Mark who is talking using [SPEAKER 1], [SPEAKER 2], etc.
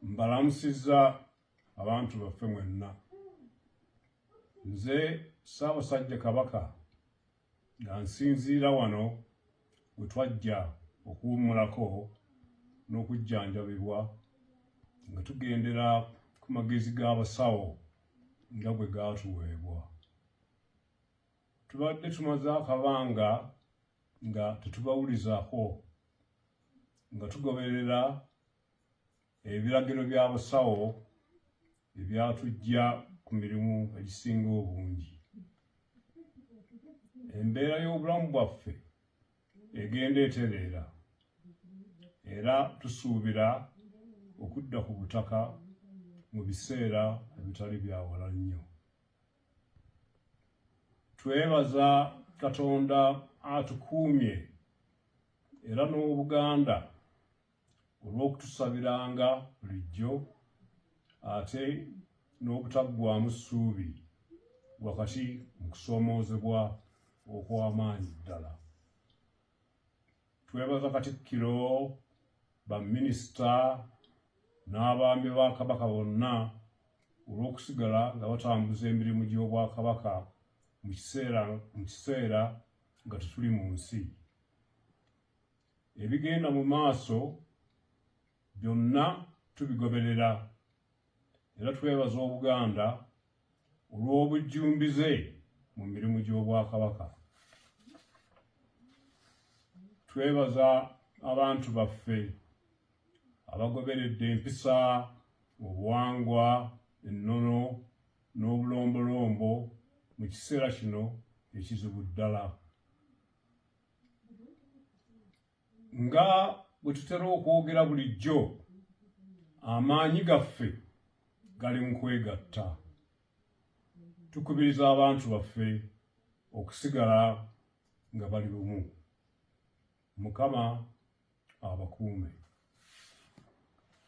[SPEAKER 1] mbalamusiza abantu baffe mwenna nze ssaabasajja kabaka nga nsinziira wano we twajja okuwummulako n'okujjanjabibwa nga tugendera ku magezi g'abasawo nga bwe gaatuweebwa tubadde tumaze akabanga nga tetubawulizaako nga tugoberera ebiragiro bya busawo ebyatujja ku mirimu egisinga obungi embeera y'obulamu bwaffe egenda etereera era tusuubira okudda ku butaka mu biseera ebitali byawala nnyo twebaza katonda atukuumye era n'obuganda olw'okutusabiranga bulijjo ate n'obutaggwamu ssuubi wakati mu kusoomoozebwa okw'amaanyi ddala twebaza katikkiro baminisita n'abaami ba kabaka bonna olw'okusigala nga batambuza emirimu gy'obwakabaka mu kiseera nga tetuli mu nsi ebigenda mu maaso byonna tubigoberera era twebaza obuganda olw'obujjumbize mu mirimu gy'obwakabaka twebaza abantu baffe abagoberedde empisa obuwangwa ennono n'obulombolombo mu kiseera kino ekizibu ddala nga bwe tutera okwogera bulijjo amaanyi gaffe gali mu kwegatta tukubiriza abantu baffe okusigala nga bali bumu mukama abakuume